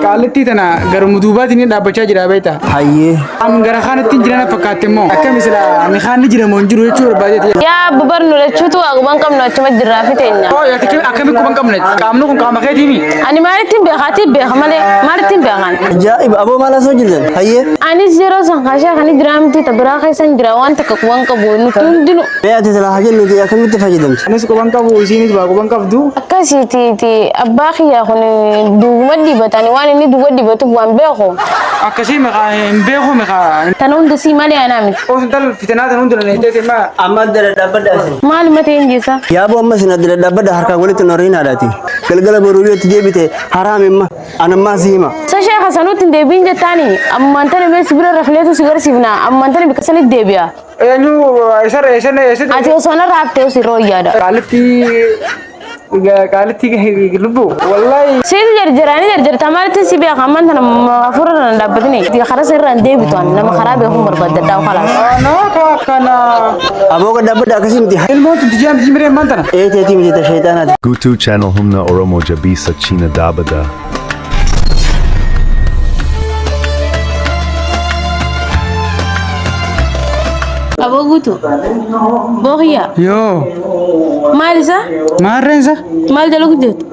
Qaallittii tana garuma duubaatiin hin dhaabbachaa jira beekta. Hayyee. An gara kaanitti hin jiran fakkaatte immoo akkami sila mikaan ni jiramoo hin jiru jechuu barbaadeeti. Yaa abba barnu lachuutu waa guban qabnu achuma jirraa fi teenya. Oo yaa tikkee akkami quban qabne qaamni kun qaama keetiimi. Ani maalittiin beekaati beeka malee maalittiin beekan. Ajaa'iba aboo maal asoo jirtan? Hayyee. Anis yeroo san kaashaa kan jiraa miti ta biraa keessan jira waan takka quban qabu nuti hundinu. Mee ati silaa hajii nuti akkamitti fayyadamte? Anis quban qabu isiinis baa quban qabdu. Akkasiitiiti abbaa kiyyaa kun duwwuma dibatani waan inni duwwa dibatuuf waan beeku. Akkasii meqaa hin beeku meqaa. Tana hunda sii malee anaa miti. Qoos intal fitinaa tan hunda dandeettee deemaa. Amma adda dhadhaabadha isin. Maal matee hin geessaa? Yaaboo amma isin adda dhadhaabadha harkaan walitti noriin haadhaati. Galgala boruu yoo itti deebite haraam imma anammaa si hima. Sashee kasanuutti hin deebiin jettaani ammaan tana mee si bira rafleetu si garsiifna ammaan tana bikka sanitti deebi'a. Eenyu eessarra eessarra eessatti? Ati osoo narraa haftee osii rooyyaadha. Qaalitti qaalitti lubbu wallahi. Situ jarjara ni jarjarta maalitti si beeka ammaan tana hafuura tana dhaabbatini. Karaa sirraa hin deebitu ani nama karaa beekuun barbaadda dhaa kalaas. Anaa kaa kana. Aboo gad dhaabbadha akkasii miti. Ilmoon tunti ji'a miti jimiree ammaan tana. Eeteetii miti ta sheexaanaati. Gutu channel humna oromo jabisa china dabada. Aboo guutu. Boohiyyaa. Yoo. Maal isa? Maarreen isa? Maal jala guddeetu?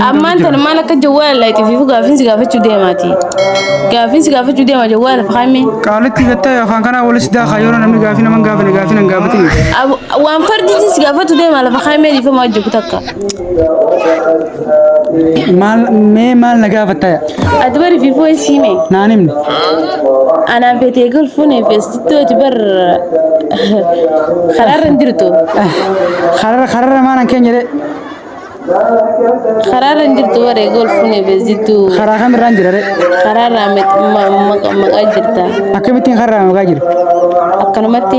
Ammaan tana maal akka jawwaala laayitiif gaafiinsi gaafachuu deemaati. Gaafiinsi gaafachuu deema jawwaala fahamee. Qaalitti gattee afaan kanaa walis daakaa yeroo namni gaafii nama hin gaafane gaafii nan gaafatin. Waan fardiitis gaafatu deema lafa kaamee dhiifama hojjetu takka. Maal mee maal na gaafatta Ati bari fifuu hin siime. naan himne. Anaan feetee golfuun feestitti hojii bar karaarra hin jirtu. Karara karara maanan keenya jedhee Karaarra hin jirtu baree golfuun feestitti karaa kamirraan jira jedhee karaarraa maqaa jirta. akkamittiin kararaan maqaa jiru. Akkanumatti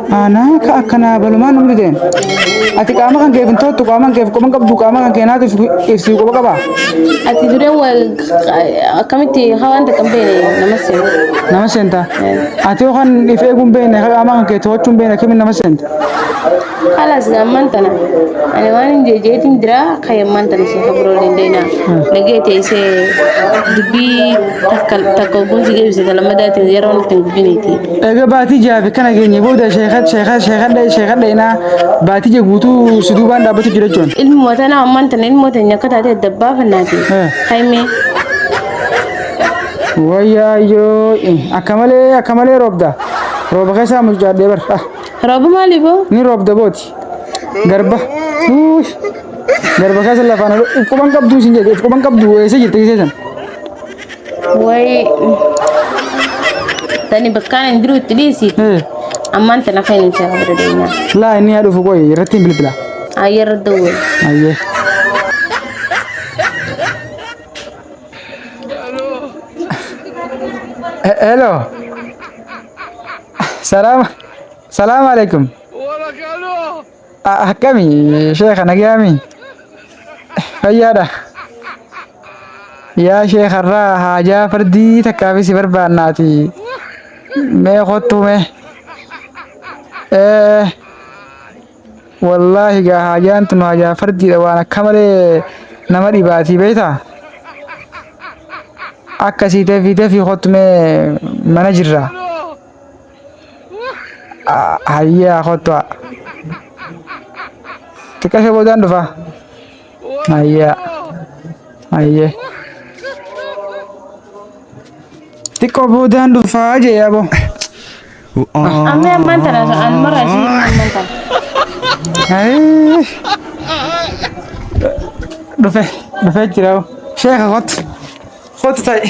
Aanaa ka akkanaa balumaan nu dideen. Ati qaama kan keef hin toottu qaama kan keef quba hin qabdu qaama kan keenaatu ibsii quba qaba. Ati dure wal akkamitti haa wanta kan beene nama seena. Nama seenta. Ati yoo kan if eeguu hin beekne ka qaama kan kee to'achuu hin beekne akkamiin nama seenta. Halas ammaan tana ani waan hin jeejeetiin jira kan ammaan tana ishee kan biroo dandeenya. Dhagee teessee dubbii takka takka ogumsi deebisee talamadaatiin yeroo nutti hin gubbiniiti. Egaa baatii jaafi kana geenye booda sheekad sheekad sheekadha sheekadha inaa baatii jee guutuu si duubaan dhaabbatu jira jechuun. Ilmoo tana ammaan tana ilmoo teenya akka taate adda baafannaati. Eh. Haymee. Wayyaayyoo akka malee akka malee roobda rooba keessaa mucaadhee bar ah, Rooba maali boo? ni roobda booti garba Uuy. garba keessa lafaan ol- quban qabduu sin jedhe quban qabduu eessa jirti keessan Way tani bakkaan hin jiru itti dhiisi. Ammaan tana kan hin seefa bira deemaa. Laa inni haa dhufu qoy irratti hin bilbila. Ayyarra dawwee. Ayyee. He- Hello. Salaam. Salaam alaikum. Akkami sheeka nagayaami fayyaadha yaa sheeka irraa haajaa fardii takkaaf si barbaannaati mee kottuu mee ee wallaahi gaa haajaan tun haajaa fardiidha waan akka malee nama dhibaatii beektaa akkasii tefii tefii kottu mee mana jirraa. Hayyee haa kottu haa. Xiqqasha boodaan dhufa. Hayyee haa. Hayyee. Xiqqoo boodaan dhufa jee aboo. Amma ammaan tana an mara isin ammaan tana. Hayyee. Dhufe dhufee jira aboo. Sheeka kottu. Kottu ta'i.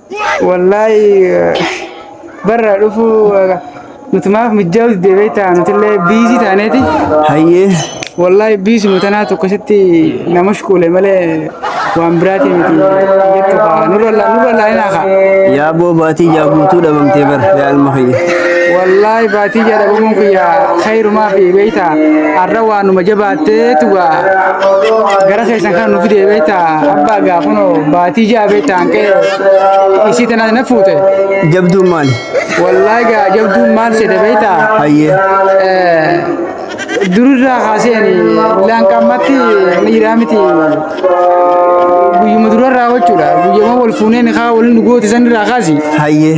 Wallaahi barra dhufu nutumaaf mijjaawutti deebee ta'a nutillee biizii taaneeti. Hayyee. Wallaahi biizuma tanaa tokkositti nama shukuule malee waan biraati miti jettu kaa nurra laalinaa kaa. Yaa boo baatii yaa guutuu dhabamtee bar yaa ilma kiyya. Wallaahi baatii yaa dhabamuun kiyya kayrumaa fi beeyta har'a waanuma jabaa Teetu gara keessan kana nu fidee beekta abbaa gaa kunoo baatii ja'a beekta hanqee isii tanaa na fuute. Jabduun maali? Wallaahi gaa jabduun maal seete beekta. Hayyee. Durirraa kaaseen laanqammatti miiraa miti guyyuma durarraa jechuudha guyyama wal fuunee nikaa waliin dhugooti sanirraa kaasi. Hayyee.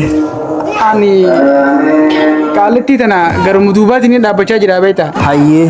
Ani qaalittii tana garuma duubaatiin dhaabbachaa jira beekta. Hayyee.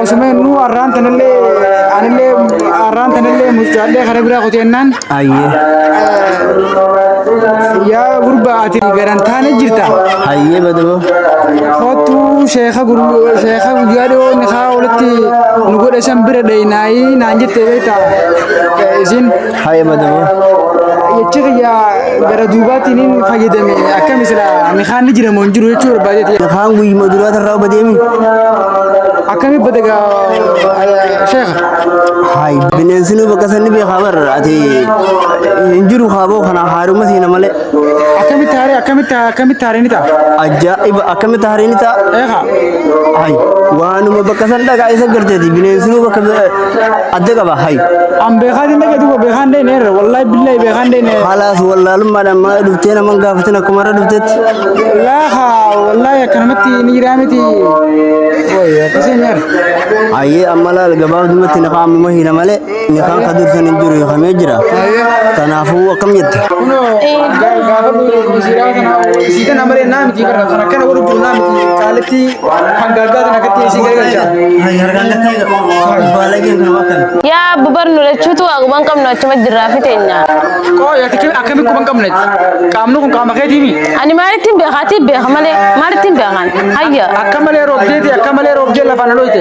Osuma innuu har'aan tanallee anillee har'aan tanallee mucaallee kana biraa kuteennaan Hayyee. yaa gurbaa ati garan taane jirta. Hayyee badoo. Kottu sheeka gurguruu sheeka guyyaa dhiyoo nikaa walitti nu godhe san bira dhayinaayii naan jettee beektaa isin. Haye madama. Jechi kiyya gara duubaatiin hin fayyadame akkami sila mikaan ni jira moo hin jiru jechuu barbaadeeti. Kaan guyyuma duraa tarraa oba deemi. Akkami bada gaa sheekha. Hayi bineensi nu bakka sanni beekaa barra ati hin jiru kaaboo kana haaruma siina malee. Akkamitti haaree akkamitti akkamitti haaree ni ta'a. Ajaa'iba akkamitti haaree ni ta'a. Eegaa. Hayi waanuma bakka san dhagaa isa garteeti bineensi nu bakka adda qaba hay an beekaan hin dhagatu beekaan dhee neerra wallahi billahi beekaan dhee neerra haalaas wallaalummaadhaan maa dhuftee nama hin gaafatin akkuma irra dhuftetti laaha wallahi akkanumatti ni jiraa miti woy akkasii neerra hayyee amma laal gabaabdumatti nafa ammuma hina malee nikaan ka dursan hin jiru hiikamee jira kanaafuu akkam jette kunoo gaafadhu misiiraa kana isii kana malee naa miti barra kan akkana godhu jiru naa miti kaaletti Kan gaaggaa kana akkatti isin gargaarcha. Yaa abbu barnu lachuutu waa guban qabnu achuma jirraa fi teenya. Qooyi ati kimi akkami quban qabnetti? Qaamni kun qaama keetiimi? Ani maalittiin beekaa tii beeka malee maalittiin beekan hayya. Akka malee roobdeeti akka malee roobdee lafaan dhooyte.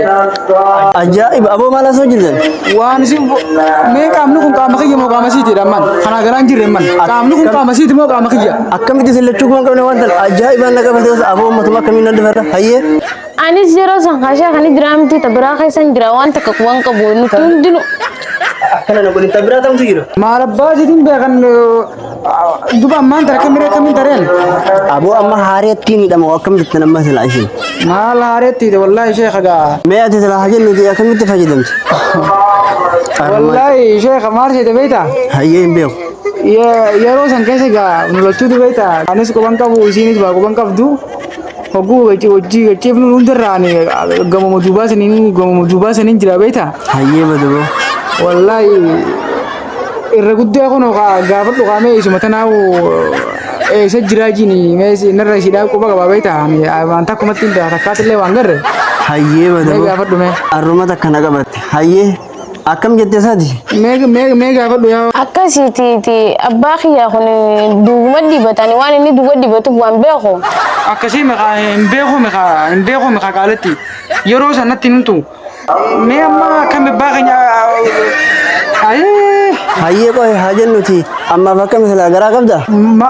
Ajaa'iba aboo maal asoo jirtan? Waan isin mee qaamni kun qaama kiyya moo qaama siiti dhammaan? Kanaa garaan jirre man. Qaamni kun qaama siiti moo qaama kiyya? Akkamitti isin lachuu kuma qabna waan ta'an ajaa'ibaan na qabate gosa aboo uummatuma akkamiin nan dubarra hayyee. Anis yeroo san kaashaa kan jiraa miti tabiraa keessan jira waan takka waan qabu nuti hundinu. Akkana na godhin tabiraa tamtu jira. Maal abbaa jetiin beekan duba ammaan tara kamiree kamiin tareen. Aboo amma haareettiin hidhama akkam jettan amma silaa isheen. Maal haareetti hidhe wallaahi sheekha gaa. Mee ati silaa hajin nuti akkamitti fayyadamte? Wallaahi sheekha maal seete beektaa? Hayyee hin beeku. Yeroo san keessa egaa nu lachuu dubee ta'a. Anis quban qabu isiinis baa quban qabdu. Hogguu hojii gachiifnu hundarraan gamuma duubaa saniin gamuma duubaa saniin jira beektaa. Hayyee badaboo. Wallaahi irra guddaa kun gaafa dhugaamee isuma tanaa eessa jiraa jiini meesii narra ishiidhaa quba qabaa beektaa. Waan takkumatti hin ta'a takkaatti illee waan garre. Hayyee badaboo. Gaafadhu mee. Arruma takka na qabatte. Hayyee. Akkam jette sadi? Mee gaafadhu yaa Akkasiitiiti abbaa kiyyaa kun duwwuma dibatani waan inni duwwa dibatuuf waan beeku. akkasii meqaa hin beeku meqaa hin beeku meqaa qaaletti yeroo sanatti hin himtu. Mee amma akkam abbaa keenya ayii Hayyee qohe haa jennuti ammaaf akkami silaa garaa qabda? ma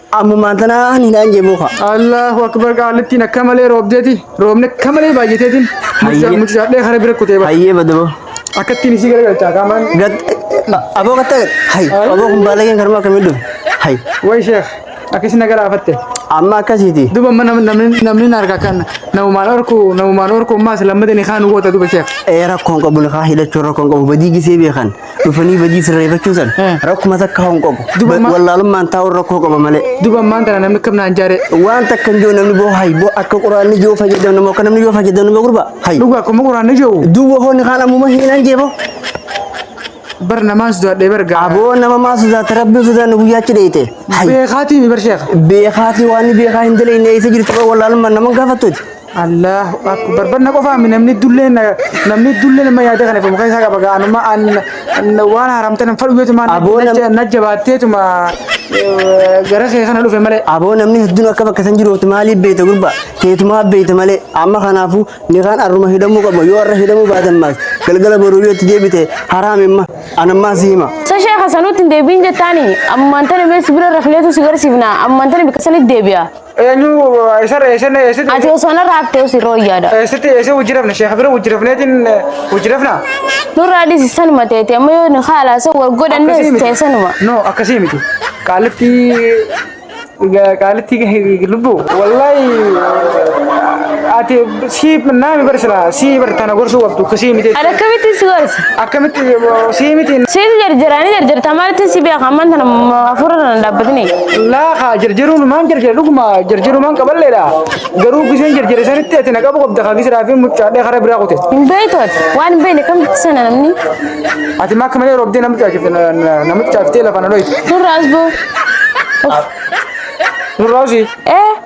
Ammumaan tanaa ni naan jee booka. Allahu akbar qaalittiin akka malee roobdeeti. Roobni akka malee baay'ateetiin. Hayyee. Muccaadhee kara bira kutee bara. Hayyee badaboo. Akkattiin isii garagalchaa qaamaan. Gat aboo gatta gat. Hay aboo kun baalageen karuma akkamii dhufe. Hay Way sheekh akkasi na galaafatte. amma akkasiiti. Duba mana namni namni na argaa kan namumaan orku namumaan orku maas lammadeen kaan goota duba sheekh. Ee rakkoon qabu lafaa hidhachuun rakkoon qabu badii gisee beekan. dhufanii badii sirreeffachuu san Eh. rakkuma takka hin qabu Duba Ba- ma- wallaalummaan taa'uun rakkoo qaba malee Duba ammaan tana namni kam naan jaare waan takka hin jiru namni boo hayi boo akka quraanni jiru fayyadamna moo akka namni jiru fayyadamna moo gurba hayi dhugaa akkuma quraanni jiru duuba hoonni kaan ammuma hiinaan jeefoo bar namaan sodaadhee bar gaa aboo nama maa sodaate rabbiin sodaanne guyyaachi dheeyte hayi beekaatii mi bar sheekha beekaatii waan beekaa hin daleeyne eessa jirtu wallaalummaan nama hin gaafattuuti Allahu akbar barna qofaa mi namni dullee namni dullee nama yaada kana famu keessa qaba gaanuma an waan haramtan hin fadhu jetu maan Aboo nam- najja baatteetuma gara kee kana dhufe malee Aboo namni hedduun akka bakka san jiruutti maaliif beeyta gurba teetumaa beeyta malee amma kanaafuu nikaan arruma hidhamuu qaba yoo arra hidhamuu baatan maas galgala boruu yoo itti deebite haraam imma anammaa si hima. Sa sheekha sanuutti hin deebiin jettaani ammaan tana mee sibira rafleetu si garsiifna ammaan tana bikka sanitti deebi'a. Eenyu eessa eessa eessatti Ati osoo narraa haftee osii rooyyaadha. eessatti eessa hojjirafna sheekha bira hojjirafneetiin hojjirafna. Nurraa dhisi sanuma teeti amma yoo nu haalaasa wal godhanne Akkasii miti. teessanuma. No akkasii miti. Qaalitti qaalitti lubbu wallahi ati Sii naami bar silaa sii bar tana gorsuu qabdu kisii miti. Ani akkamittiin si gorsa? Akkamitti sii miti Siif jarjaraanii jarjartaa maalitti si beeka amman tana hafuura tana dhaabbatini. laakaa jarjaruun maan jarjara dhuguma jarjaruu maan qaballeedha. Garuu kiseen jarjare sanitti ati na qabu qabda kaa kisiraa fi mucaadhee karaa biraa kute. Hin beektu ati waan hin beekne akkamitti sana namni Ati maa akka malee roobdee nama caafifte nama caafiftee lafa na dhoyte. nurra as ba'u. Nurraa usii. Eh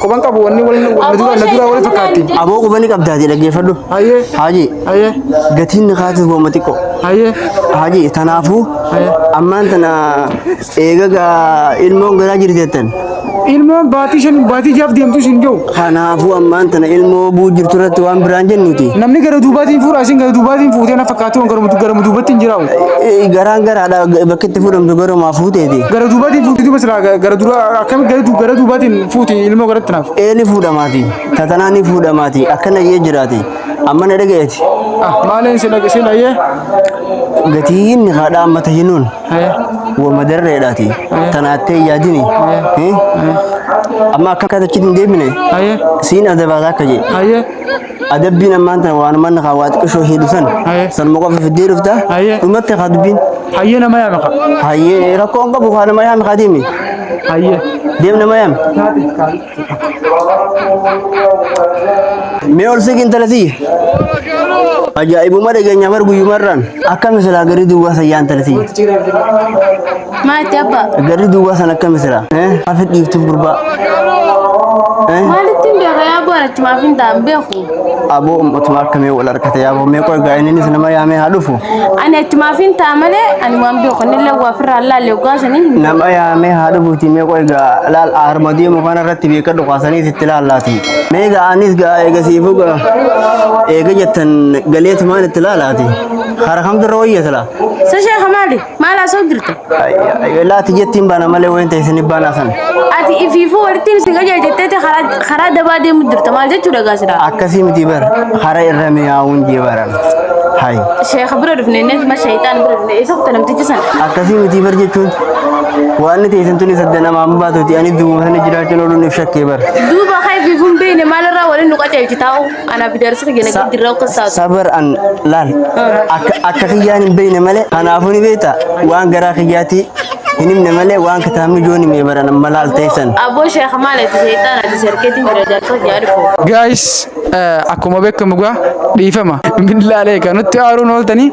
Kophan qabu wanni wal na dura na dura wal fakkaatti. Aboo quba ni qabdaati dhaggeeffadhu. Hayyee. Haajii Hayyee. gatiin nikaatiif booma xiqqoo. Hayyee. Haajii tanaafuu ammaan tana eegaga ilmoon garaa jirti jettan. Ilmoon baatii shan baatii jaaf deemtu isin jiru. Kanaafuu ammaan tana ilmoo buu jirtu irratti waan biraan jennuti. Namni gara duubaatiin fuudha isin gara duubaatiin fuutee na fakkaatu gara gara duubatti hin jiraatu. Garaan garaadha bakka itti fuudhamtu garumaa fuuteeti. Gara duubaatiin fuuti duuba silaa gara dura akkami gara du- gara duubaatiin fuuti ilmoo garatti naaf. Ee ni fuudhamaati. Tatanaa ni fuudhamaati. Akkana jee jiraati. Amma na dhagayeeti. Ah maaleen si dhag- si dhayyee. Gatii inni haadha amma tahinuun Eh, wa madarreedhaati. Tanaattee yaadini. Eh? Amma akka katachitti hin deebine. Hayyee siin adabaataa akka jee. hayyee. Adabbiin ammaan tana waanuma inni kaa waa xiqqishoo heedu san Aye. sanuma qofa fiddee dhufta Aye. dhumatti kaa dubbiin Hayyee nama yaame kaa. hayyee rakkoo hin qabu kaa nama yaami kaa deemi Hayyee. deem nama yaami mee ol siqi intala tiyya ajaa'ibuma dhageenyaa bar guyyumarraan akkami silaa garii duwwaa sayyaa intala tiyya Maa itti abbaa? Garri duwwaa san akka misira. Hafi dhiiftuuf gurbaa. Maalitti hin beeku yaa borachi maaf hin ta'an beeku? Aboo ummatumaa akkamii wal harkate yaaboo mee qoy gaa inni isa nama yaamee haa dhufu. Ani achi maaf hin ta'a malee ani waan beeku inni illee waa firraa laalee ogaa sanii hin Nama yaamee haa dhufuuti mee qoy gaa laal harma deemu kana irratti beeka dhukaasanii sitti laallaati. Mee gaa anis gaa eega siifuu gaa eega jettan galeetumaan itti laalaati. Hara kamtu irra wayya sila. Sashaa kamaali? Maal haasoo jirta? Laati jettiin baana malee wayin ta'e isin baanaa sana. Ati ifiifuu walitti isin qajeelcha jetteeti karaa- karaa dabaa deemu jirta. Maal jechuudha gaa sidaa? Akkasii miti bara hara irra mi'aawuun jee baran. Hayi. Sheekha bira dhufne inni ma shayxaan bira dhufne isa kuta namtichi sana. Akkasii miti bar jechuun waan ta'e isin tuni sadda namaa hin baatuti ani duuma sana jiraachuun ooluun if shakkee bara. Duuba haa ifiifuu hin beekne maalirraa waliin nu qajeelchi taa'u. Ana bidarsi kan jana kan dirra kan saatu. Sabar an laal akka akka kiyyaan hin beekne malee kanaafuu ni beekta waan garaa kiyyaati hin himne malee waan kitaabni jooni mee baran amma laal teessan. Aboo sheekh maal itti seetaan ati serkeetiin jira jaarsa jaari foo. Guys, eh, akkuma beekamu gaa dhiifama billaalee kan nutti aaruun ooltanii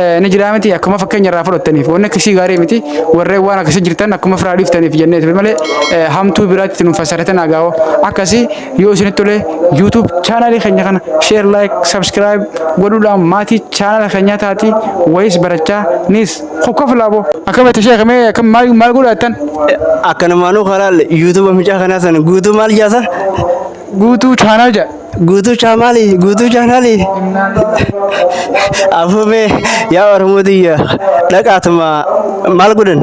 eh, ni jiraa miti akkuma fakkeenya irraa fudhattaniif wanni akkasii gaarii miti warreen waan akkasii jirtan akkuma firaa dhiiftaniif jennee ture malee eh, hamtuu biraatti nuuf fassaratan agaawoo akkasii Yoo isinitti tole YouTube chaanaalii keenya kana share like subscribe godhuudhaan maatii chaanaala keenyaa taati wayis barachaa nis kokkof laabo akkam itti sheekh mee akkam maal maal godha jettan Akkanumaanuu kalaal yuutuuba mucaa kanaa sana guutuu maal jaasa? guutuu chaanaal jedha Guutuu chaamaalii guutuu chaanaalii. Afuufee yaa Oromoo tiyya dhaqaatuma maal godhan?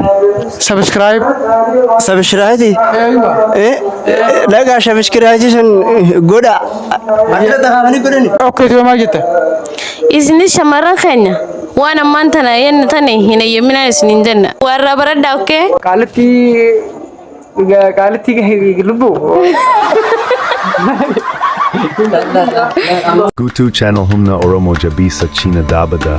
Subscribe. Sabishiraati. Dhagaa sabishiraati sun godha. Maamila tahaafanii godhani. Okay tuma maal jetta? Isinis shamarran keenya waan ammaan tana yenna tane hin eeyyaminaa isiniin jenna. Warraa baradhaa okkee? Qaalitti qaalitti lubbu. Gutu channel humna oromo jabisa china dabada.